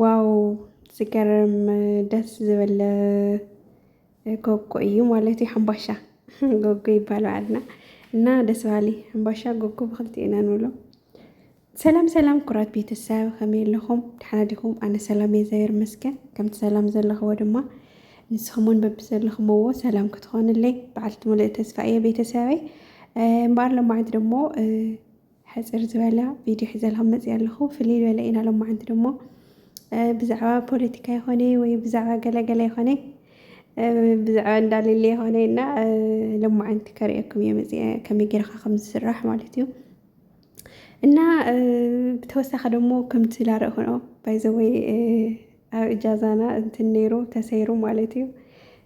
ዋው ዝገርም ደስ ዝብል ጎጎ እዩ ማለት እዩ። ሕምባሻ ጎጎ ይባላልና እና ደስ በሃሊ ሕምባሻ ጎጎ ብክልቲኡ ኢና ንብሎ። ሰላም ሰላም ኩራት ቤተሰብ ከመይ ኣለኹም? ደሓና ዲኹም? ኣነ ሰላም እየ እግዚኣቢሔር ይመስገን። ከምቲ ሰላም ዘለኽዎ ድማ ንስኹምን በብዘለኽምዎ ሰላም ክትኾንለይ በዓልቲ ሙሉእ ተስፋ እየ ቤተሰበይ እምበኣር ሎማዕንቲ ደግሞ ሕጽር ዝበለ ቪድዮ ሒዘልኩም መጺኣ ኣለኹ። ፍልይ ዝበለ ኢና ሎማዓንቲ ደሞ ብዛዕባ ፖለቲካ ይኾነ ወይ ብዛዕባ ገለገለ ይኾነ ብዛዕባ እንዳሌለ ይኾነ እና ሎማዓንቲ ከርእየኩም እየ መጺኣ ከመይ ጌርካ ከም ዝስራሕ ማለት እዩ። እና ብተወሳኺ ደሞ ከምቲ ላርእኹኖ ባይዘወይ ኣብ እጃዛና እንትን ነይሩ ተሰይሩ ማለት እዩ።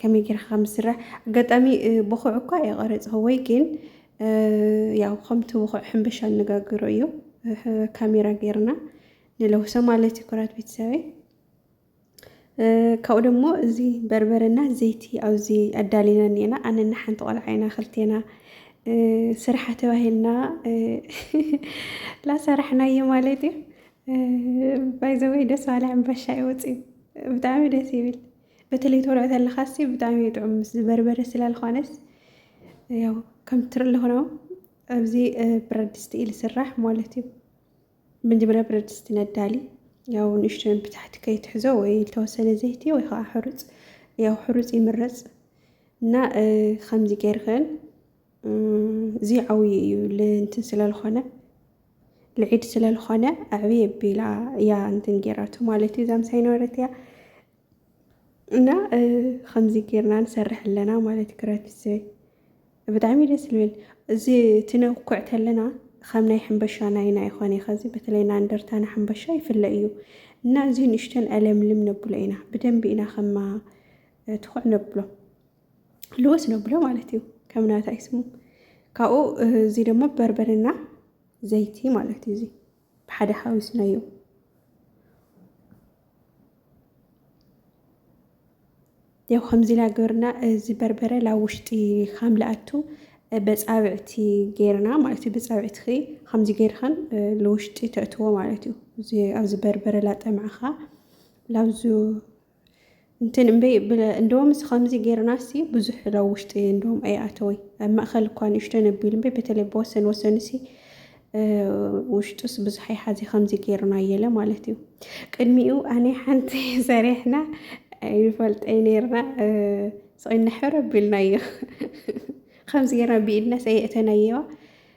ከመይ ጌርካ ከም ዝስራሕ ኣጋጣሚ ብኹዕ እኳ ኣይቐረጽክዎይ ግን ያው ከምቲ ብኹዕ ሕንበሻ እንጋግሮ እዩ ካሜራ ጌርና ንለውሶ ማለት እዩ ኩራት ቤተሰበይ ካብኡ ደሞ እዚ በርበረና ዘይቲ ኣብዚ ኣዳሊና እኒኤና ኣነና ሓንቲ ቆልዓ ኢና ክልቴና ስርሓ ተባሂልና ላሰራሕናዮ ማለት እዩ ባይዘወይ ደስ ባለ ዕምባሻ ይወፅ እዩ ብጣዕሚ ደስ ይብል በተለይ ተወልዖ ተለኻሲ ብጣዕሚ እዩ ጥዑም ምስ ዝበርበረ ስላልኾነስ ያው ከም ትርልኹ ነው ኣብዚ ብረት ድስቲ እዩ ዝስራሕ ማለት እዩ። መጀመርያ ብረት ድስቲ ነዳሊ ያው ንእሽቶን ብታሕቲ ከይትሕዞ ወይ ዝተወሰነ ዘይቲ ወይ ከዓ ሕሩፅ ያው ሕሩፅ ይምረፅ እና ከምዚ ገይርክን እዚ ዓብዪ እዩ ልእንትን ስለልኾነ ልዒድ ስለልኾነ ኣዕብየ ቢላ እያ እንትን ገይራቱ ማለት እዩ እዛ ምሳይ ነበረት እያ እና ከምዚ ጌርና ንሰርሕ ኣለና ማለት እዩ ክረቲሰ ብጣዕሚ ደስ ዝብል እዚ ትነኩዕ ተለና ከም ናይ ሕንበሻ ናይና ይኾነ ከዚ በተለይ ና እንደርታና ሕንበሻ ይፍለ እዩ እና እዚ ንእሽተን ኣለምልም ነብሎ ኢና ብደንቢ ኢና ከማ ትኩዕ ነብሎ ልወስ ነብሎ ማለት እዩ ከም ናታ ይስሙ ካብኡ እዚ ደግሞ በርበርና ዘይቲ ማለት እዩ እዚ ብሓደ ሓዊስናዮ። ያው ከምዚ ኢላ ገርና እዚ በርበረ ላብ ውሽጢ ካም ልኣቱ በፃብዕቲ ገርና ማለት እዩ በፃብዕቲ ኸ ከምዚ ገርኸን ልውሽጢ ተእትዎ ማለት እዩ ኣብዚ በርበረ ላጠምዕኻ ላብዙ እንትን እምበይ እንደውም እዚ ከምዚ ጌርና ሲ ብዙሕ ዶ ውሽጢ እንደውም ኣይኣተወይ ኣብ ማእኸል እኳ ንእሽቶ ነቢሉ እምበይ በተለይ ብወሰን ወሰን ሲ ውሽጡስ ብዙሕ ኣይሓዚ ከምዚ ጌርና የለ ማለት እዩ ቅድሚኡ ኣነ ሓንቲ ሰሪሕና ይፈልጠይ ነርና ስቕና ሕረ ቢልና እዩ ከምዚ ጌርና ብኢድና ሰየእተናየዋ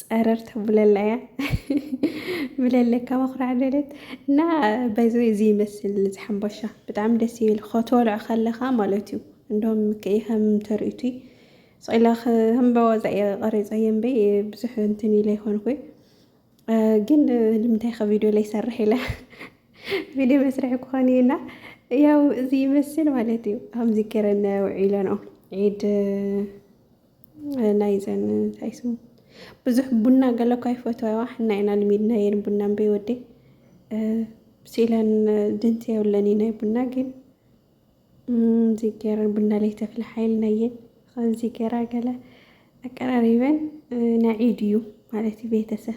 ፀረር ተብለላ እያ ብለለካ መኩራዕ ደለት እና በዚ እዚ ይመስል እዚ ሓምባሻ ብጣዕሚ ደስ ይብል ከተወልዖ ከለኻ ማለት እዩ እንደም ከይ ከም ተርእዩቲ ስቂላ ከምበዋዛ እየ ቀሪፀ የንበ ብዙሕ እንትን ኢለ ይኮንኩ ግን ንምንታይ ከ ቪድዮ ላይ ሰርሕ ኢለ ቪድዮ መስርሒ ክኾን እዩና ያው እዚ ይመስል ማለት እዩ ከምዚ ገረን ውዒለ ነው ዒድ ናይዘን እንታይ ስሙ ብዙሕ ቡና ገለ እኳ ይፈትዋ ሕና ኢና ልሚድናየን ቡና እምበይ ወደይ ሲለን ድንት የብለን ናይ ቡና ግን እዚ ገይረን ቡና ላይ ተፍልሓ ኢልናየን ከምዚ ገይራ ገለ ኣቀራሪበን ናይ ዒድ እዩ ማለት እዩ ቤተሰብ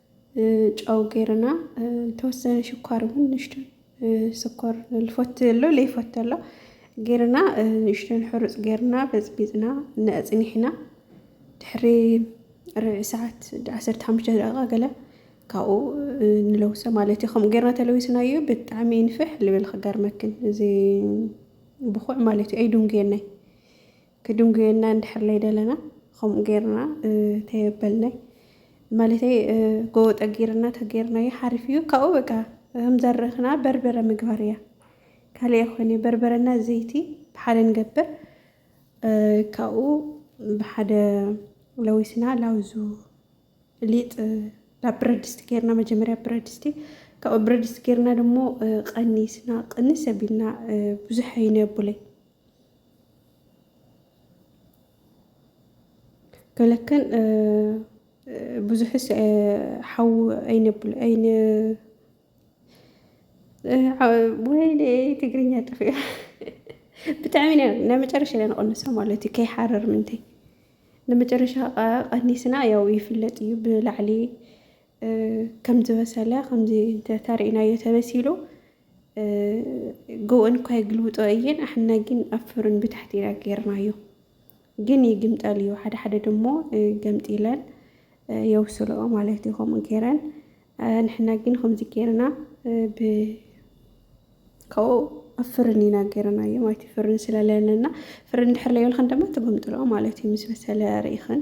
ጨው ገይርና ዝተወሰነ ሽኳር እውን ንእሽቶ ስኮር ልፈቱ ዘሎ ለይፈቱ ኣሎ ገይርና ንእሽቶን ሕሩፅ ገይርና በፅቢፅና ነፅኒሕና ድሕሪ ርብዒ ሰዓት ዓሰርተ ሓሙሽተ ደቂቃ ገለ ካብኡ ንለውሶ ማለት እዩ ከምኡ ገይርና ተለዊስናዮ ብጣዕሚ ይንፍሕ ልብል ክገርመክን እዚ ብኩዕ ማለት እዩ ኣይዱንጌናይ ክድንጉየና እንድሕር ለይደለና ከምኡ ጌርና ተየበልናይ ማለተይ ጎቦ ጠጊርና ተጌርናዮ ሓሪፍ እዩ ካብኡ በቃ ከምዘረኽና በርበረ ምግባር እያ ካልእ ይኾነ በርበረና ዘይቲ ብሓደ ንገብር ካብኡ ብሓደ ለዊስና ላውዙ ሊጥ ናብ ብረት ድስቲ ጌርና መጀመርያ ብረት ድስቲ ካብኡ ብረት ድስቲ ጌርና ደሞ ቐኒስና ቅንስ ኣቢልና ብዙሕ ኣይነብለይ ገለክን ብዙሕስ ሓው ኣይነብል ኣይነ ወይኔ ትግርኛ ጥፍዮ ብጣዕሚ ነ ናይ መጨረሻ ኢና ንቐንሶ ማለት እዩ ከይሓረር ምንተይ ንመጨረሻ ቀኒስና ያው ይፍለጥ እዩ ብላዕሊ ከምዝበሰለ ከምዚ እንተሪእናዮ ተበሲሉ ግኡ እንኳ ይግልብጦ እየን ኣሕና ግን ኣብ ፍርን ብታሕቲ ኢና ጌርናዮ ግን ይግምጠል እዩ ሓደ ሓደ ድሞ ገምጢለን የውስልኦ ማለት እዩ ከምኡ ጌረን ንሕና ግን ከምዚ ጌርና ብከኡ ኣብ ፍርን ኢና ጌርናዮ ማለት እዩ ፍርን ስለለለና ፍርን ድሕር ለየልኽን ድማ ትግምጥልኦ ማለት እዩ ምስ በሰለ ርኢኽን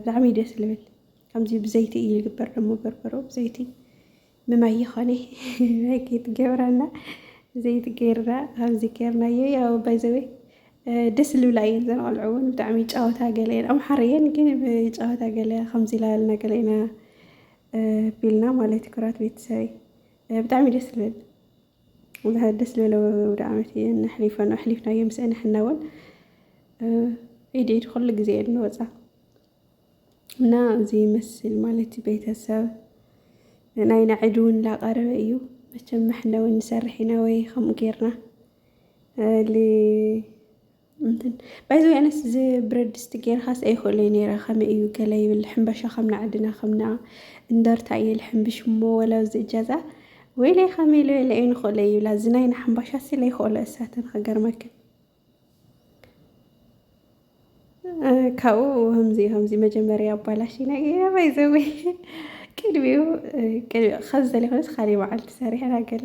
ብጣዕሚ ደስ ዝብል ከምዚ ብዘይቲ እዩ ዝግበር ደሞ በርበሮ ብዘይቲ ምማይ ይኾነ ጌት ገብራና ዘይቲ ገይርና ከምዚ ገይርናዮ ያው ባይዘወ ደስ ልብላ እየን ዘን ቆልዑ እውን ብጣዕሚ ጨወታ ገለ እየን ኣምሓር እየን ግን ጨወታ ገለ ከምዚ ላበልና ገለ ኢና ቢልና ማለት ኩራት ቤተሰበይ ብጣዕሚ ደስ ልብል እዚ ሓድስ ሌሎ ወደ ዓመት እየ ነሕሊፈ ነው ኣሕሊፍናዮ ምስኤ ንሕና እውን ኢድ ኢድ ኩሉ ግዜ እየ ንወፃ እና እዚ ይመስል ማለት እዩ ቤተሰብ ናይና ዒድ እውን ላቀረበ እዩ መቸም ምሕነ እውን ንሰርሕ ኢና ወይ ከምኡ ጌርና እንትን ባይዘ ኣነስ እዚ ብረድስቲ ጌርካስ ኣይክእለይ ነይረ ከመይ እዩ ገለ ይብል ሕምባሻ ከም ናዕድና ከምና እንደርታ እየ ልሕምብሽ እሞ ወላ እዚ እጃዛ ወይለይ ከመይ ለለ እዩ ንክእለ ይብላ እዚ ናይ ንሕምባሻ ሲ ለይክእሎ እሳተን ክገርመክን ካብኡ ከምዚ ከምዚ መጀመርያ ኣባላሽ ነገረ ባይዘወ ቅድሚኡ ቅድሚ ከዚ ዘለ ኮነስ ካልእ መዓልቲ ሰሪሐና ገለ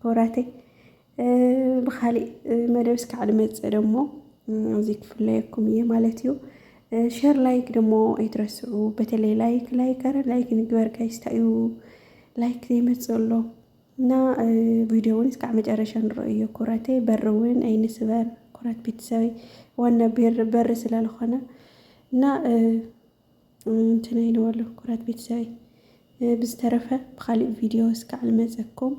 ክቡራተይ ብካሊእ መደብ እስካዕ ድመፅእ ደሞ እዚ ክፍለየኩም እየ ማለት እዩ። ሸር ላይክ ደሞ ኣይትረስዑ። በተለይ ላይክ ላይክ ኣረ ላይክ ንግበር ጋይስ ታዩ ላይክ ዘይመፅእ ኣሎ እና ቪዲዮ እውን እስካዕ መጨረሻ ንረእዮ ኩራተይ በር እውን ኣይንስበር ኩራት ቤተሰበይ ዋና በር ስለዝኾነ እና እንትን ኢልዎ ኣለኹ ኩራት ቤተሰበይ ብዝተረፈ ብካሊእ ቪድዮ እስካዕ ልመፀኩም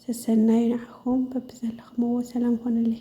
ሰሰናዩ ንዓኹም በብዘለኽምዎ ሰላም ኾኑለይ።